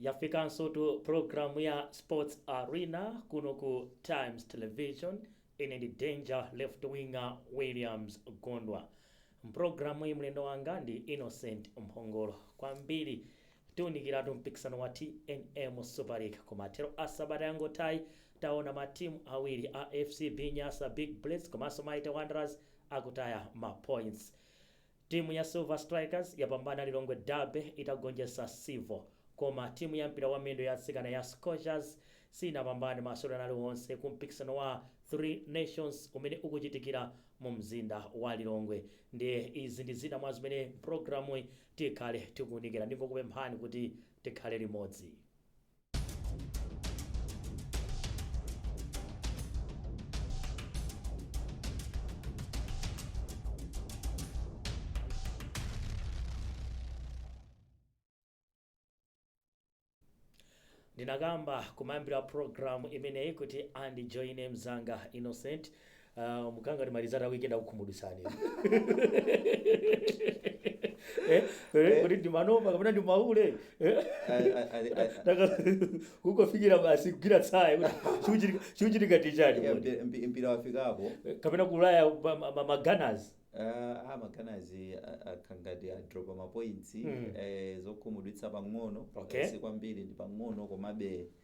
yafikanso tu programu ya sports arena kuno ku times television Ine ndi Danger Left Winger Williams Gondwa. M'pulogalamuyi mlendo wanga ndi Innocent Mphongolo. Kwambiri tiunikiratu mpikisano wa TNM Super League. Kumathero a sabata yangothayi taona matimu awiri a FCB Nyasa Big Bullets komanso Mighty Wanderers akutaya mapointsi. Timu ya Silver Strikers yapambana Lilongwe Derby itagonjetsa Civil koma timu ya mpira wa miyendo ya atsikana ya Scorchers sinapambane masewero aliwonse ku mpikisano wa Three Nations umene ukuchitikira mu mzinda wa Lilongwe ndiye izi ndi zina mwa zimene programuyi tikhale tikuunikira ndingokupemphani kuti tikhale limodzi. ndinakamba kumayambiriro a programu imeneyi kuti andijoine mzanga Innocent Ah, mukanga ndi ma result a weekend akukhumudwitsani Eh, eh, kuti ndimanoma kapena ndimaule Eh, I- I- I- I- I- taka- kungofikira basi kugwira tsaya kuti chikuchitika- chikuchitika n'chani Yeah, kodi? mpi- mpi- mpira wafikapo kapena kulaya ma- ma- ma- ma Gunners Ah, ma Gunners akhala ngati adropa mapointsi Mm. eh, zokhumudwitsa pang'ono Okay. eh, si kwambiri ndi pang'ono komabe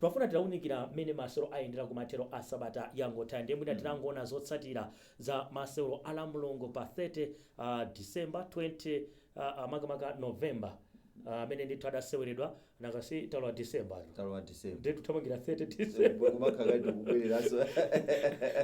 Twafuna tiunikire mmene masewero ayendera kumathero a sabata yangothayi ndiye mwina tingoona zotsatira za masewero a Lamulungu pa 30 December 20 makamaka November amene ndithu adaseweredwa nanga si talowa December ino Talowa December. ndiye tikuthamangira 30 Kumakhala December kale tikubwereranso.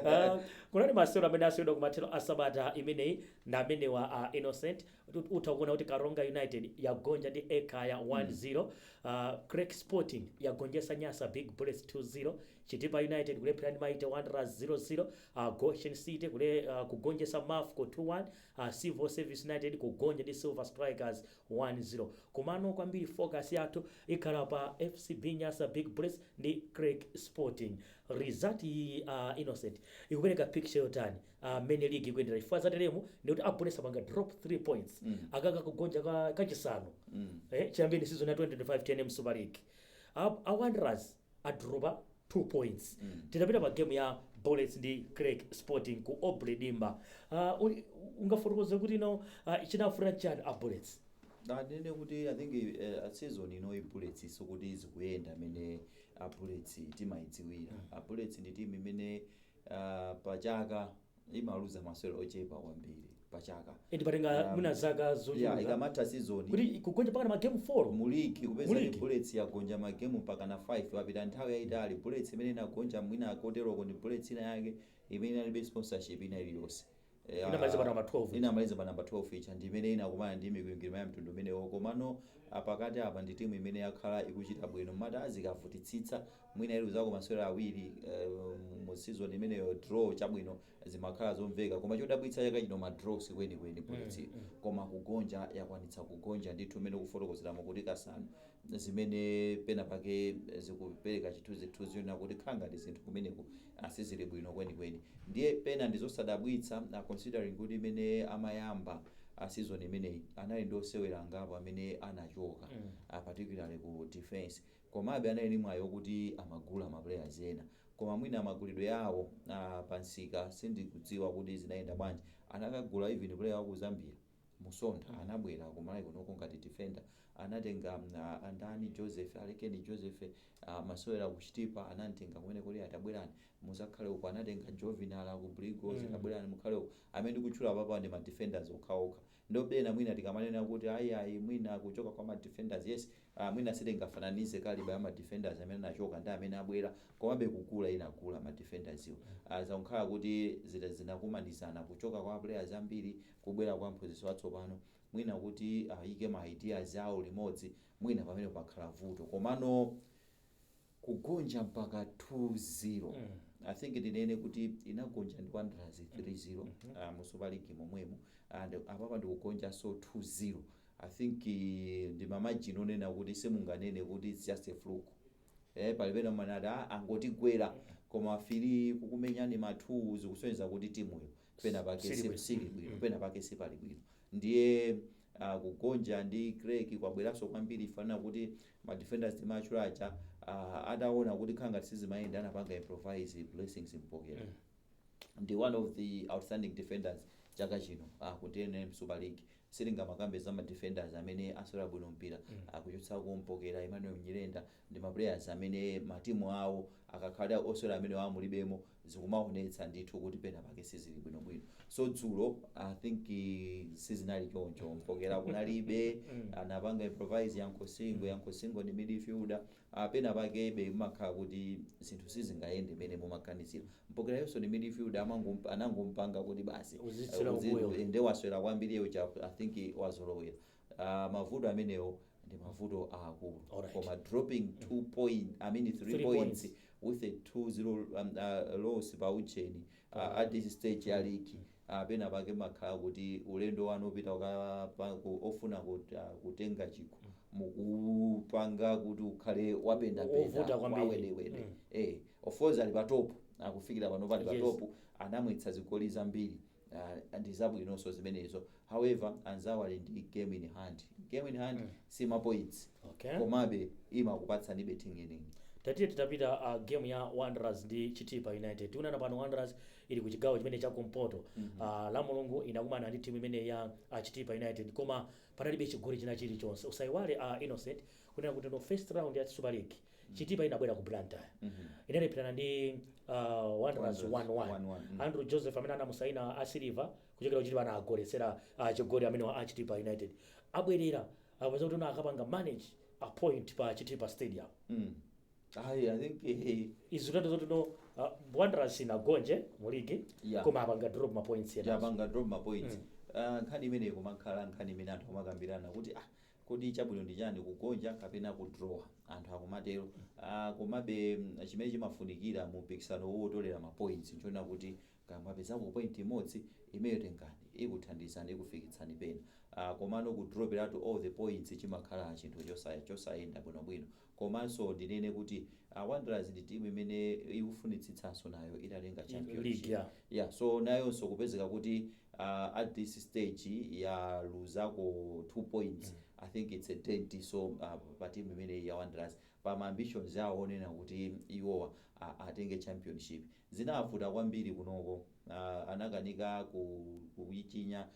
Ah, kunali masewero amene aseweredwa kumathero a sabata imeneyi ndi amenewa a Innocent utha kuona kuti karonga united yagonja ndi ekhaya 1-0 uh, creck sporting yagonjesa nyasa big bullets 2-0 chitipa united kulepherana ndi Mighty Wanderers 0-0 uh, goshen city kule, uh, kugonjesa mafco 2-1 uh, civil service united kugonja ndi silver strikers 1-0 komano kwambiri focus yathu ikhala pa fcb nyasa big bullets ndi creck sporting result iyi uh, innocent ikupereka picture yotani ah, mmene ligi ikuyendera chifukwa zateremu ndikuti a Bullets apanga drop 3 points aka n'kugonja ka- kachisanu eh, chiyambeni season ya 2025 tnm super league A- a wanderers adropa 2 points titapita pa game ya bullets ndi creck sporting ku Aubrey Dimba Ah, uli- ungafotokoze kuti no uh, chinavuta chani a bullets ndinene kuti i think uh, season ino Bullets sikuti zikuyenda mmene Bullets timayidziwira Bullets ndi timu imene ah, pa chaka imaluza masewero ochepa kwambiri pa chaka eti patenga Um, mwina zaka ya zochuluka ikamatha sizoni kuti kugonja mpakana magemu 4 mu ligi kupeza Mu kuti ligi? bullets yagonja magemu mpakana 5 papita nthawi yayitali bullets imene inagonja mwina koteroko ndi bullets ina yake imene inalibe sponsorship ina iliyonse Ya, Inamaliza pa namba 12. inamaliza pa namba 12 ija ndi imene inakumana ndi mikwingwirima ya mtundu umenewo komano pakati apa ndi timu imene yakhala ikuchita bwino moti zikavutitsitsa mwina iluzako masewera awiri eh, mu season imeneyo draw chabwino zimakhala zomveka koma chodabwitsa chaka chino ma draw sikwenikweni bullets koma kugonja yakwanitsa kugonja ndithu mmene mukufotokozeramo kuti kasanu zimene pena pake zikupereka chithunzithunzi chonena kuti khala ngati zinthu kumeneko a Sizili bwino kwenikweni. Ndiye pena ndizosadabwitsa a considering kuti mmene amayamba a season imeneyi anali ndi osewera angapo amene anachoka a particularly ku defence komabe anali ndi mwayi okuti amagula ma players ena koma mwina magulidwe awo a pa nsika sindikudziwa kuti zinayenda bwanji anakagula even player waku Zambia Musonda anabwera ku Malawi kunoko ngati defender anatenga a ndani Joseph alekeni Joseph amasewera ku chitipa anamtenga kumeneko lero tabwerani muzakhale uko anatenga Jovinala aku Blue Eagles tabwerani mukhale uko amene ndikutchula apapawa ndi ma defenders okhaokha ndiye pena mwina tikamanena kuti ayiayi mwina kuchoka kwa ma defenders yes mwina sitingafananize calibre ya ma defenders amene anachoka ndi amene abwera komabe kugula inagula ma defenderswo zangokhala kuti zina zinakumanizana kuchoka kwa players ambiri kubwera kwa mphunzitsi watsopano mwina kuti ayike ma ideas awo limodzi mwina pamene pakhala vuto komano kugonja mpaka 2-0 i think ndinene kuti inagonja ndi wanderers 3-0 uh, mu super league momwemo and apapa ndikugonjanso 2-0 i think eh, ndi ma margin onena kuti simunganene kuti it's just a fluke eh, pali pena umati ah, angotigwera koma 3 kukumenyani ma 2 zikusonyeza kuti timuyo pena pake Sili si- bwino. sili bwino Mm. pena pake sipali bwino ndiye uh, kugonja ndi Creck kwabweranso kwambiri chifukwa chonena kuti ma defenders ndimatchula aja uh, ataona kuti khala ngati sizimayenda anapanga improvise Blessings Mpokera Mm. ndi one of the outstanding defenders chaka chino uh, ku tnm super league sitingamakambe za ma defenders amene asewera bwino mpira kuchotsako mpokera, Emmanuel nyirenda ndi ma players amene matimu awo akakhala osewera amenewa mulibemo zikumaonetsa ndithu kuti penapake sizili bwino bwino so dzulo I think sizinali choncho mpokera kunalibe anapanga improvise Yankho Singo, Yankho Singo ndi midfielder a Penapakebe mumakhala kuti zinthu sizingayende mmene mumaganizira Mpokera uyonso ndi midfielder amangompa anangomupanga kuti basi uh, Uzitsira uzi- kumbuyo. u- nde waswera kwambiri iye uja I think wazolowera uh, mavuto amenewo ndi mavuto aakulu Alright. koma dropping two point I mean three, Three points, points. with a 2-0 um, uh, loss pa ucheni uh, at this stage ya league a pena pake mumakhala kuti ulendo wanu wopita kukapa ku ofuna kut a kutenga chikho mukuwupanga kuti ukhale wapenda Wo- penda wovuta kwambiri. wawedewede Mm. eh of course ali pa top akufikira pano pali pa Yes. top anamwetsa zigoli zambiri ah, ndi zabwinonso zimenezo however anzawo ali ndi game in hand game in hand Mm. si ma points okay komabe imakupatsani bargaining tatiye titapita uh, game ya wanderers ndi chitipa united tikunena pano wanderers ili ku chigawo chimene cha kumpoto Ah, la mulungu inakumana ndi timu imene ya ah, chitipa united koma panalibe chigoli china chilichonse usayiwale ah, innocent kunena kuti no first round ya super league chitipa inabwera ku blantyre inalepherana ndi ah, wanderers Wanderers, 1-1 1-1, mm. andrew joseph amene anamusaina a silver kuchokera kuchitipa anagoletsera ah, chigoli ameneyo a chitipa united abwerera apeza kuti akapanga manage a point pa chitipa stadium Mm. Ayi, I think eh, izi tati zoti no uh, wanderers sinagonje mu ligi Yeah. koma apanga drop ma points ena yapanga drop ma points. Ah, nkhani imeneyi kumakhala nkhani imene anthu amakambirana kuti ah kodi chabwino ndi chani kugonja kapena kudraw anthu akumatero ah, komabe mm, chimene chimafunikira mu mpikisano uwu otolera ma points n'choona kuti kaya mwapezako point imodzi imeyo tengani ikuthandizani ikufikitsani pena ah, komano kudroperatu all the points chimakhala chinthu chosa- chosayenda bwinobwino Komanso ndinene kuti a Wanderers ndi team imene ikufunitsitsanso nayo itatenga League, championship. yeah. Yeah, so nayonso kupezeka kuti uh, at this stage yaluzako 2 points I think it's a dent so uh, pa team imeneyi ya Wanderers pa ma ambitions yawo onena kuti iwowa uh, atenge championship zinawavuta kwambiri kunoko uh, anakanika ku, kuichinya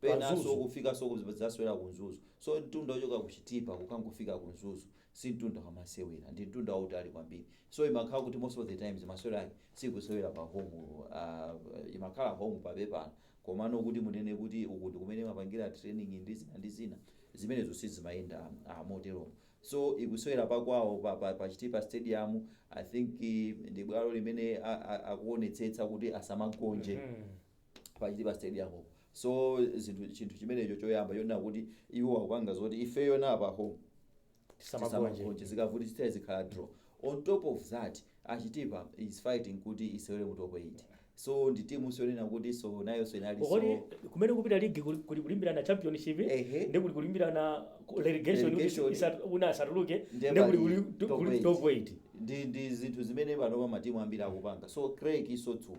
pa penanso Mzuzu. kufikanso ku Mzuzu, kuzasewera ku Mzuzu so mtunda wochoka ku Chitipa kukangofika ku Mzuzu si mtunda wamasewera ndi mtunda wautali kwambiri so imakhala kuti most of the times masewero ake sikusewera pa home uh, imakhala home pa pepala komano kuti munene kuti uku ndi kumene mumapangira training ndi zina ndi zina zimenezo sizimayenda uh, moteromo so ikusewera pa kwawo pa, pa, pa Chitipa stadium i think eh, ndi bwalo limene a- a- akuonetsetsa kuti asamagonje Mhm. pa Chitipa stadium po so zinthu chinthu chimenecho choyamba chonena kuti iwo akupanga zoti ifeyo na pa home Tisamagonje. tisamagonje zikavuti sitaya zikhala draw on top of that Chitipa is fighting kuti isewere mu top 8 so ndi timu yonena kuti nso nayonso inali kodi so kumene kukupita ligi kuli kuli kulimbirana championship Ehe. ndi kuli kulimbirana ku- relegation kuti Relegation. isa- una asatuluke Ndiye ndi kuli pali kuli top kuli eight. top 8 ndi ndi zinthu zimene panopa matimu ambiri akupanga so Craig isotsulo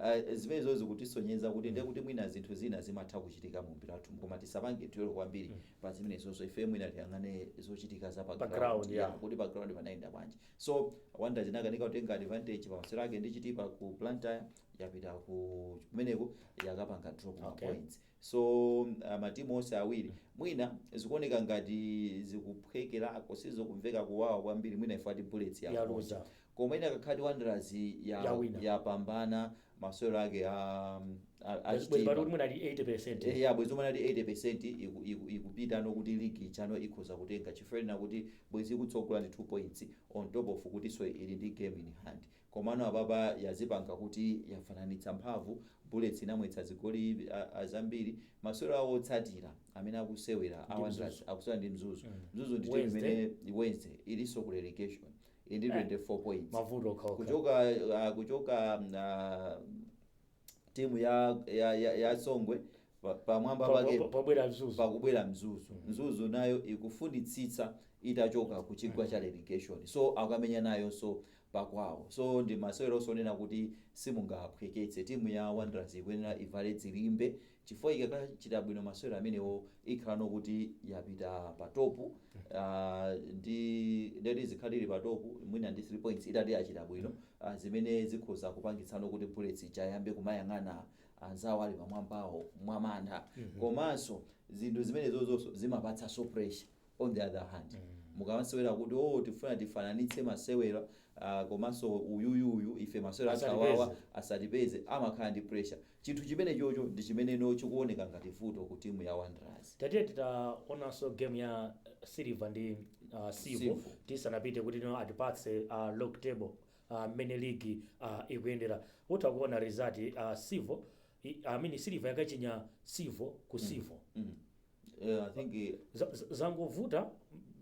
Aaa zimenezo zikutisonyeza kuti ndiye kuti mwina zinthu zina zimatha kuchitika mu mpira wathu koma tisapange dwell kwambiri pa zimenezozo ifeyo mwina tiyang'ane zochitika za pa Pa ground, ground, yeah. yeah, kuti pa ground panayenda bwanji so Wanderers inakanika kutenga advantage pa masewero ake ndi Chitipa ku Blantyre yapita ku kumeneko yakapanga drop ma Okay. points so uh, matimu onse awiri mwina zikuoneka ngati zikuphwekerako sizokumveka kuwawa kwambiri mwina if at Bullets Yaluza. yaluza Koma inakakhala kuti Wanderers ya Yawina. yapambana masewero ake a a- a Bwezi bwezi pali kuti Chitipa. mwina ali 80%. Eh, ya bwezi umanati 80% iku- iku- ikupitano kuti ligi chino ikhoza kutenga chifukwa ndiye kuti bwezi ikutsogola ndi 2 points on top of kutinso ili ndi game in hand komano apapa yazipanga kuti yafananitsa mphamvu Bullets inamwetsa zigoli a- a- zambiri masewero awo otsatira amene akusewera a Ndi Wanderers Mzuzu. akusewera ndi Mzuzu Mm. Mzuzu ndi timu Wednesday. imene Wednesday ilinso ku relegation Ili ndi 24 points. Mavuto okha okha. Kuchoka ah, kuchoka ah, timu ya ya ya, ya Songwe pa- pamwamba Pa- pake pa- Pobwera Mzuzu. pakubwera Mzuzu Mzuzu nayo ikufunitsitsa itachoka ku chigwa cha relegation so akamenya nayonso pakwawo so ndi maseweronso onena kuti simungaphweketse timu ya Wanderers ikuyenera ivale dzilimbe chifukwa ikakachita bwino masewero amenewo ikhalano kuti yapita pa top uh, ndi ndeti zikhala ili pa top mwina ndi 3 points itati yachita bwino uh, zimene zikhoza kupangitsano kuti Bullets ichiyamba kumayang'ana anzawo ali pamwambawo mwamantha komanso zinthu zimenezozonso zimapatsanso pressure on the other hand mukamasewera kuti oh tifuna tifananitse masewero ah, komanso uyuyu uyu ife masewero Asatipeze. awawa asatipeze amakhala ndi pressure chinthu chimenechocho ndi chimeneno chikuoneka ngati vuto ku timu ya Wanderers tatiye titaonanso game ya Silver ndi uh, Civo Civo. tisanapite kuti no atipatse uh, log table uh, mmene ligi uh, ikuyendera utakuona result uh, Civo I, I mean Silver yakachinya Civo ku Civo Mm. Eh, I think eh, Za- za- zangovuta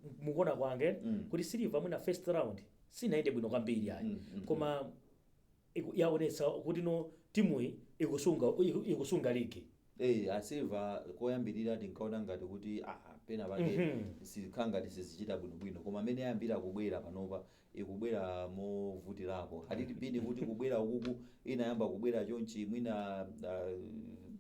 m- mukuona kwanga Mm. kuti Silver mwina first round sinayende bwino kwambiri ayi Mm, mm, koma iku- yaonetsa kuti no timuyi ikusunga iku- ikusunga ligi eh, a Silver koyambirira tinkaona ngati kuti ah, pena pake Mhm. zikhala ngati sizichita bwinobwino koma mmene yayambira kubwera panopa ikubwera movutirapo had it been kuti kubwera ukuku inayamba kubwera chonchi mwina uh,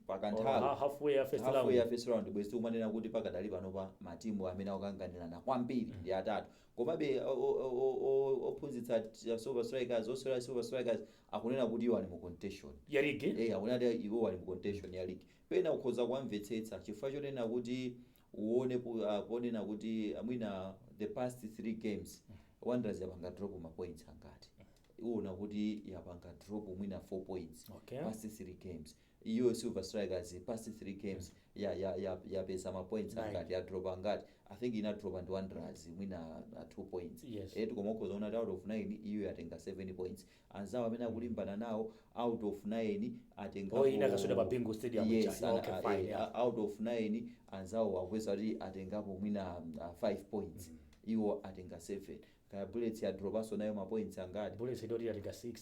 pakanthawi Or ha- halfway ya first halfway ya round. first round bwezi tikumanena kuti pakadali pano pa matimu amene akukanganirana kwambiri ndi atatu komabe o- o- o- o- ophunzitsa t- silver strikers osewera silver strikers akunena kuti iwo ali mu contention ya ligi eh akunena kuti iwo ali mu contention ya league pena ukhoza kuwamvetsetsa chifukwa chonena kuti uwone ku a ponena kuti mwina the past 3 games wanderers yapanga drop ma points angati uwona kuti yapanga drop mwina 4 points Okay. past 3 games iyo silver strikers past 3 games ya ya ya yapeza ma points Nine. angati ya drop angati i think inadroppa ndi wanderers mwina 2 points Yes. eh ndiye ukhoza kuona out of 9 iyo yatenga 7 points anzawo amene akulimbana nawo out of 9 atengapo oh inakaswera pa bingu stadium yes chani okay fine yeah. uh, out of 9 anzawo akupeza kuti atengapo mwina 5 uh, points mm -hmm. iwo atenga 7 kaya bullets yadropanso nayo ma points angati bullets ndiyo yatenga 6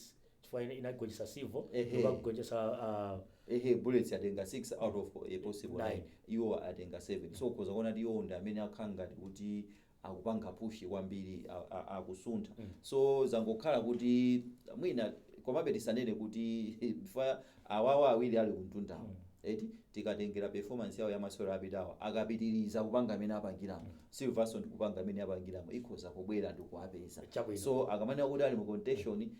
chifukwa inagonjetsa civil ikagonjetsa uh, ehe bullets atenga 6 out of a possible 9 iwo atenga 7 so ukhoza kuona kuti iwo ndi amene akhala ngati kuti akupanga push kwambiri akusuntha so zangokhala kuti mwina komabe tisanene kuti chifukwa awawa awiri ali kumtundawo eti tikatengera performance yawo yamasewero apitawo akapitiriza kupanga mmene apangiramo silver nso ndi kupanga mmene yapangiramo ikhoza kubwera ndikuwapezanso akamanena kuti ali mu contention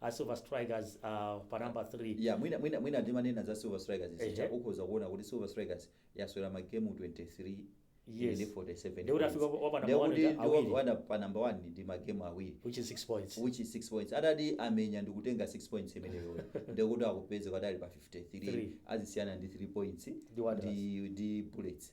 a silver strikers uh, pa number 3 ya mwina mwina mwina ndimanena za silver strikers Ehe. zija ukhoza kuona kuti silver strikers yaswera magemu 23 Yes. ndi 47 Ndio utafika points. wa pa number Ndio one kuti uja ndi wa- awiri. wa- pa number 1 ndi magemu awiri which is 6 points which is 6 points atati amenya ndikutenga 6 points imeneyo ndikuti akupezeka ali pa 53 Three. azisiyana ndi 3 points Ndi Wanderers. ndi, ndi bullets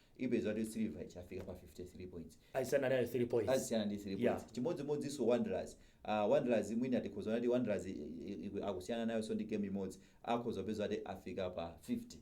ipeza kuti silver ija yafika pa 53 points azisiyana nayo 3 points azisiyana ndi 3 points Yeah. chimodzimodzinso wanderers uh, wanderers mwina tikhoza kuti wanderers i- i- i- akusiyana nayonso ndi game imodzi akhoza kupeza kuti afika pa 50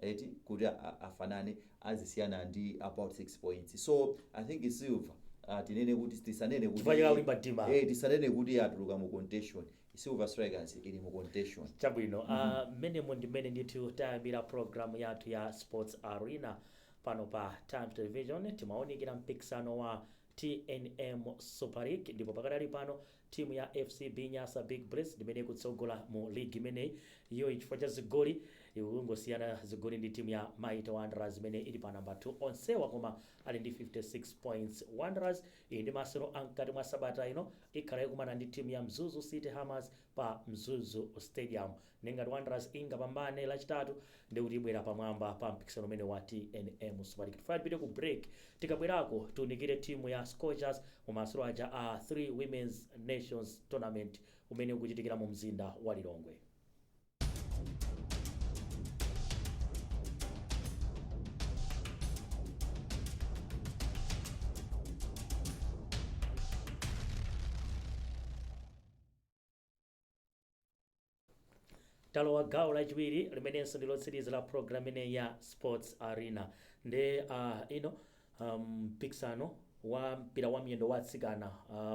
eti kuti a- a- afanane azisiyana ndi about 6 points so i think silver uh, tinene kuti tisanene kuti Chifukwa chikakulimba mtima. eh, tisanene kuti atuluka mu contention Silver Strikers ili mu contention. Chabwino, ah, mmenemo ndi mmene ndithu tayambira programu yathu ya Sports Arena pano pa Times Television. Timaunikira mpikisano wa TNM Super League ndipo pakadali pano timu ya FCB Nyasa Big Bullets ndimene ikutsogola mu ligi imeneyi iyo chifukwa cha zigoli ikungosiyana zigoli ndi timu ya Mighty Wanderers imene ili pa namba 2 onsewa koma ali ndi 56 points. Wanderers Iyi ndi masewero a mkati mwa sabata ino ikhala ikumana ndi timu ya Mzuzu City Hammers pa Mzuzu Stadium ndi ngati Wanderers ingapambane lachitatu ndekuti ibwera pamwamba pa mpikisano umenewu wa tnm Super League. Tifuna tipite ku break tikabwerako tiunikire timu ya Scorchers mu masewero aja a 3 Women's Nations Tournament umene ukuchitikira mu mzinda wa Lilongwe. talowa gawo lachiwiri limenenso ndi lotsiriza la program inoyi ya sports arena ndi uh, ino Mpikisano wa mpira wa miyendo wa atsikana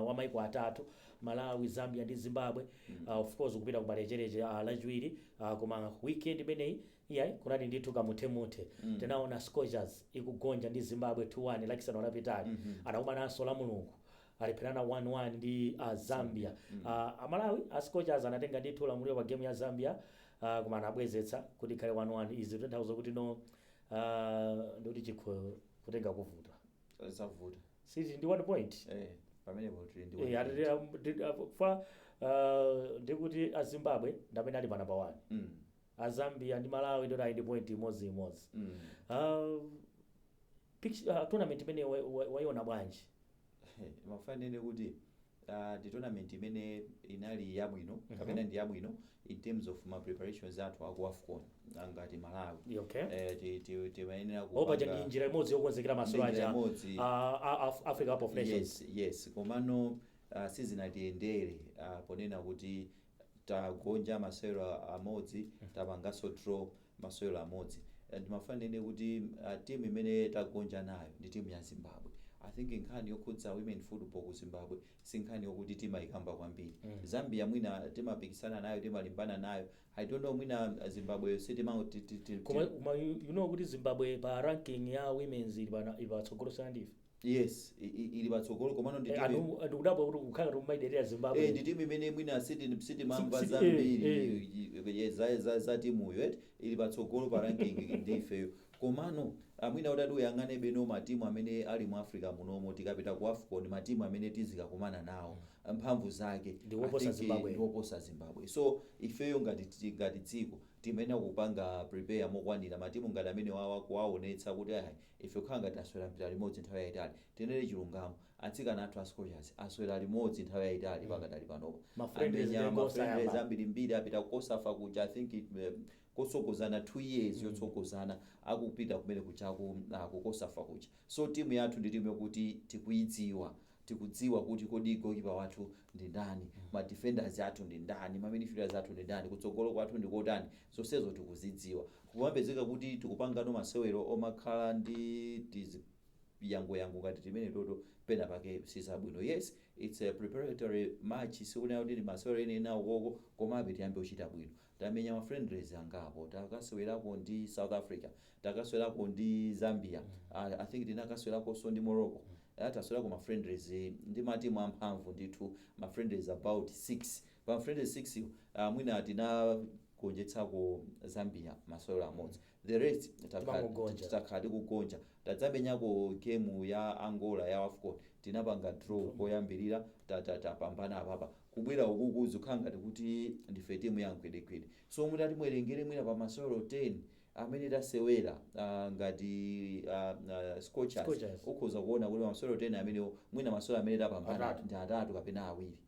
wa maiko atatu, Malawi, Zambia ndi Zimbabwe, of course ukupita kumalecheleche lachiwiri koma weekend imeneyi iyayi kunali ndithu kamuthemuthe. Tinaona Scorchers ikugonja ndi Zimbabwe 2 1 lachisanu lapitali. Anakumananso lamulungu alepherana 1 1 ndi Zambia. A Malawi a Scorchers anatenga ndithu ulamuliro pa game ya Zambia koma anabwezetsa kuti ikhale 1 1. Izi zikutanthauza kuti no Ah, ndoti chikho kutenga kuvuta zavuta si tili ndi one point eh pamenepo tili ndi Eh, atete, um, ndi- ah, fa ah, ndikuti azimbabwe ndamene ali pa namba wani mm azambia ndi malawi ndoti ali ndi point imodzi imodzi mm Ah, picture- ah, tournament imene wa- wa- waiona bwanji mafuna nene kuti Uh, ndi tournament imene inali yabwino mm -hmm. kapena ndi yabwino in terms of ma preparations athu aku AFCON ngati Malawi okay. eh, timayenera ku opaja ndi njira imodzi yokonzekera masewero aja uh, Africa Cup of Nations yes yes komano uh, sizinatiyendere uh, ponena kuti tagonja masewero amodzi tapanganso draw masewero amodzi Eh, ndimafuna ndinene kuti uh, timu imene tagonja nayo ndi timu ya zimbabwe i think nkhani yokhudza women football ku zimbabwe si nkhani yokuti timayikamba kwambiri zambia mwina timapikisana nayo timalimbana nayo i don't know mwina uh, zimbabwe sitima ti- ti- ti- koma ti- koma you you know kuti zimbabwe pa ranking ya women's ili pana- ili patsogolo sana ndife yes i- i- ili patsogolo komano ndi Eh, timu anthu anthu kudabwa kuti kukhala ngati timayiderera Eh, zimbabwe ndi timu imene mwina siti- sitimamva Si- si- zambiri eh, y- y- za- za- za timuyo eti ili patsogolo pa ranking ndi ifeyo komano mwina utati uyang'ane bwino matimu amene ali mu africa munomo tikapita ku afcon matimu amene tizikakumana nawo mphamvu zake Ndi woposa I think, Zimbabwe. ndi woposa zimbabwe so ifeyo ngati ti- ngati dziko timayenera kupanga prepare mokwanira matimu ngati amene wawa kuwaonetsa kuti ayi Ife kukhala ngati aswera mpira limodzi nthawi yaitali, tinene chilungamo, atsikana athu a Scorchers aswera limodzi nthawi yaitali pakadali panopa, amenya ma friendlies ambirimbiri, apita ku Cosafa kuja, I think it eh, kotsogozana 2 years yotsogozana akupita kumene kuja ku, ah, ku Cosafa kuja, so timu yathu ndi timu yokuti tikuidziwa. tikudziwa kuti kodi goalkeeper wathu ndi ndani, ma defenders athu ndi ndani, ma midfielders athu ndi ndani, kutsogolo kwathu ndi kotani, zonsezo tikuzidziwa. Kumapezeka kuti tikupangano masewero omakhala ndi chiziyangoyango ngati timenetoto pena pake sizabwino. Yes, it's a preparatory match, sikuti ndi masewero enieni aukoko, komabe tiyambe kuchita bwino. tamenya ma friendlies angapo, takasewelako ndi south africa, takasewelako ndi zambia, i think tinakasewelakonso ndi morocco, eya tasewelako ma friendlies ndi ma team amphamvu ndithu, ma friendlies about 6, pa ma friendlies 6 wo mwina tinagonjetsako zambia masewelo amodzi, the rest takhala tikugonja tadzamenyako game ya angola ya wafcon tinapanga draw koyambirira ta- ta- tapambana apapa kubwera ukuku zikhala ngati kuti ndife timu ya mgwedegwede so mutati muwerengere mwina pa masewero 10 amene tasewera ah, ngati ah, ah, scorchers Scorchers. ukhoza kuona kuti masewero 10 amenewo mwina masewero amene tapambana Atatu. ndi atatu kapena awiri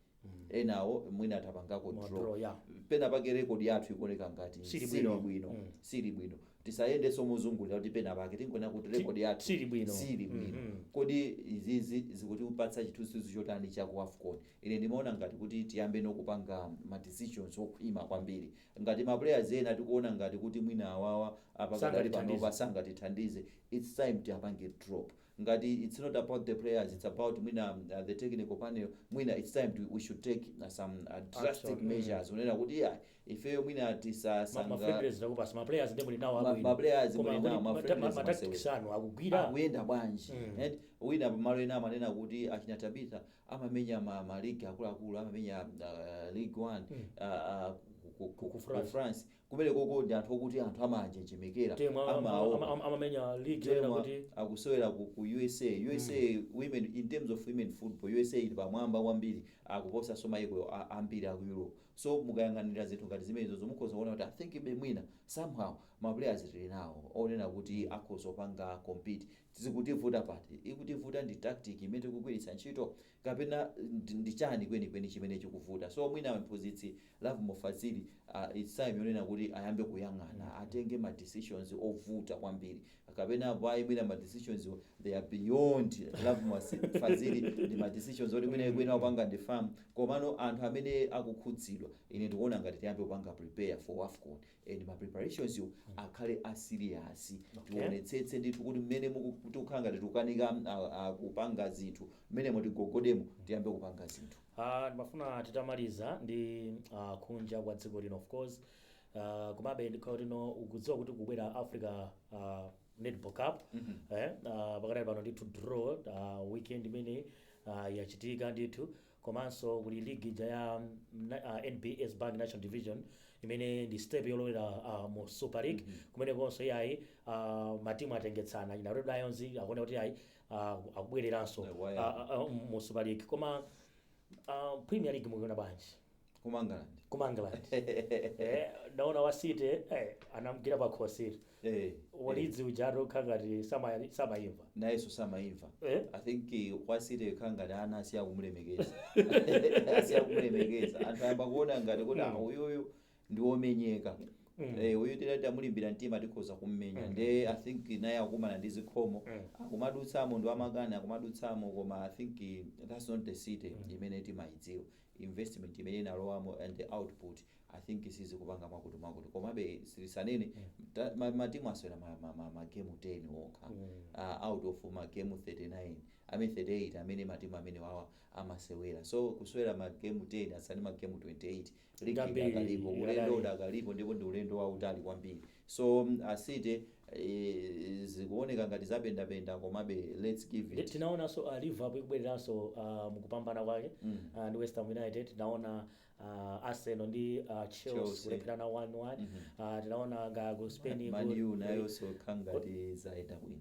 enawo mwina tapangako ma draw draw, yeah. pena pake record yathu ikuoneka ngati Sili sili bwino. bwino Mm. sili bwino tisayendenso mozungulira kuti pena pake tingonena kuti record yathu sili bwino. sili bwino Mhm. kodi izizi zikutipatsa chithunzithunzi chotani cha ku wafcon ine ndimaona ngati kuti tiyambe nokupanga ma decisions okhwima kwambiri ngati ma players ena tikuona ngati kuti mwina awawa apakadali Sangatithandize. panopa sangatithandize its time tiyapange drop ngati its not about the players its about mwina the technical panel mwina its time to, we should take some drastic measures kunena kuti iyayi ifeyo mwina tisaka mafriendlies takupasa maplayers nde muli nawo abwino maplayers muli nawo mafriendlies matactics anu akugwira akuyenda bwanji mm. and wina pamalo ena amanena kuti achina tabitha amamenya ma, ma league akuluakulu amamenya uh, league one mm. uh, uh, ku, ku, ku, ku France Kumenekoko ndi anthu okuti anthu amawanjenjemera, Team ama- ama- amawaopa. ama- ama- amamenya league yonena Team a- kuti akusewera ku, ku USA. USA women in terms of women football, USA ili pamwamba kwambiri akuposanso maiko a- ambiri aku Europe. So mukayang'anira zinthu ngati zimenezozo mukhoza kuona kuti I think be mwina somehow ma players tili nawo onena kuti akhoza kupanga compete. Zikutivuta pati? Ikutivuta ndi tactic imene tikugwiritsa ntchito kapena ndi ndi chani kwenikweni chimene chikuvuta so mwina mphunzitsi Lovemore Fazili uh, its time yonena kuti ayambe kuyang'ana atenge ma decisions ovuta kwambiri kapena apo ayi mwina ma decisions wo, they are beyond Lovemore Si- Fazili ndi ma decisions oti mwina ikuyenera kupanga ndi FAM komano anthu amene akukhudzidwa ine ndikuona ngati tiyambe kupanga prepare for WAFCON and ma preparationso akhale a serious tionetsetse ndithu kuti mmene muku- tikukhala ngati tikukanika ah, ah, kupanga zinthu mmene mutigogodemo tiyambe kupanga zinthu Ah, ndimafuna titamaliza ndi ah, kunja kwa dziko lino of course Ah, komabe ndikhale ndinu mukudziwa kuti kubwera africa ah, netball cup eh, ah, pakadali pano ndithu draw ah, weekend imene ah, yachitika ndithu Komanso kuli ligi ija ya NBS Bank National Division imene ndi step yolowera uh, mu Super League kumenekonso iyayi uh, matimu atengetsana ina Red Lions akuoneka kuti iyayi uh, akubwereranso Waya. uh, uh, mu Super League koma uh, Premier League mukuiona bwanji ku mangalande ku mangalande eh, ndaona wa city eh, anamgwira pa khosi eh, wa Leeds uja akukhala ngati sama- samayimva nayeso samayimva Eh? i think eh, wa city kukhala ngati anthu asiya kumulemekeza asiya kumulemekeza anthu ayamba kuona ngati kuti ah, uyuyu ndi womenyeka Eh, uyu titamulimbira mtima tikhoza kummenya nde i think naye akumana ndi zikhomo akumadutsamo ndi wamakani akumadutsamo koma i think eh, that's not the city imene timayidziwa investment imene inalowamo and the output i think sizikupanga mwakuti mwakuti komabe tisanene ta- ma- matimu asewera ma- ma- ma- magemu 10 okha uh, out of magemu 39 amene 38 amene matimu amene wawa amasewera so kusewera magemu 10 atsala ndi magemu 28 ligi Kwambiri, idakalipo ulendo idakali. udakalipo ndipo ndi ulendo wautali kwambiri So a city zikuoneka ngati zapendapenda komabe let's give it. Tinaonanso a Liverpool ikubwereranso mukupambana kwake ndi West Ham United, tinaona Arsenal ndi Chelsea kulepherana 1-1, tinaona kaya ku Spain ku. Man U nayonso kukhala ngati zayenda bwino.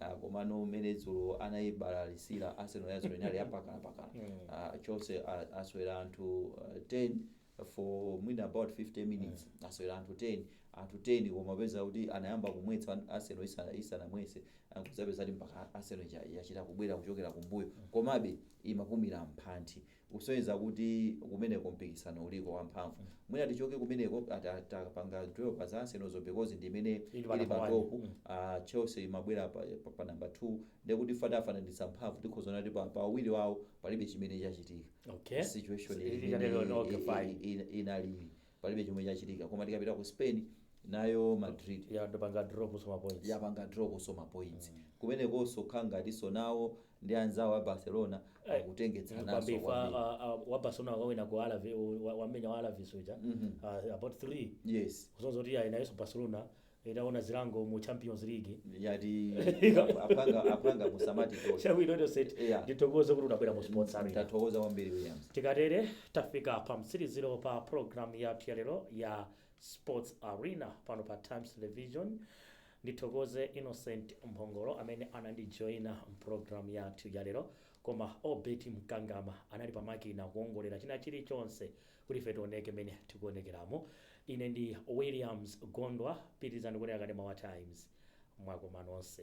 Ah, komano mmene dzulo anayibalalitsira arsenal ya dzulo inali yapakana pakana Mm. Ah, Chelsea a- asewera anthu ah, 10 for mwina about 50 minutes asewera anthu 10 anthu 10 koma peza kuti anayamba kumwetsa an- arsenal isana- isanamwetse nkudzapeza kuti mpaka arsenal ija- yachita kubwera kuchokera kumbuyo komabe imapumira m'nthiti kusonyeza kuti kumeneko mpikisano uliko wamphamvu mwina tichoke kumeneko ah, ta- atapanga draw pa za Arsenal zo because ndi imene Ili pa ili number pa one. top Mm. ah, Chelsea imabwera pa, pa, pa number 2 ndekuti ife titafananitsa mphamvu tikhoza kuona kuti pa, pa awiri wawo palibe chimene chachitika Okay. situation Ili- ili- ili- ili- okay, fine. i- i- inalili palibe chomwe chachitika koma tikapita ku spain nayo madrid yangopanga draw kusowa ma points yapanga draw kusowa ma points kumenekonso kukhala ngatinso nawo ndi anzawo a barcelona Eh, akutengetsananso kwambiri fa kwambiri. ah, ah, wa barcelona wakawina ku alaves wamenya wa alaves uja Ah, about 3 yes kusonyeza kuti ayi nayeso barcelona Itaona zilango mu champions league. Ndinati aphwanga aphwanga musamatitole. Chabwino Innocent Yeah. ndithokoze kuti unabwera mu sports arena. Tathokoza kwambiri Williams. Tikatere tafika pa mtsiriziro pa program yathu ya lero ya sports arena pano pa Times Television. Ndithokoze Innocent Mphongolo amene anandijoina mprogram yathu ya lero koma Obet Mkangama anali pa makina kuongolera china chilichonse Kuti ife tioneke mmene tikuonekeramo, ine ndi Williams Gondwa. Pitirizani kuonera kanema wa Times. Mwakoma nonse.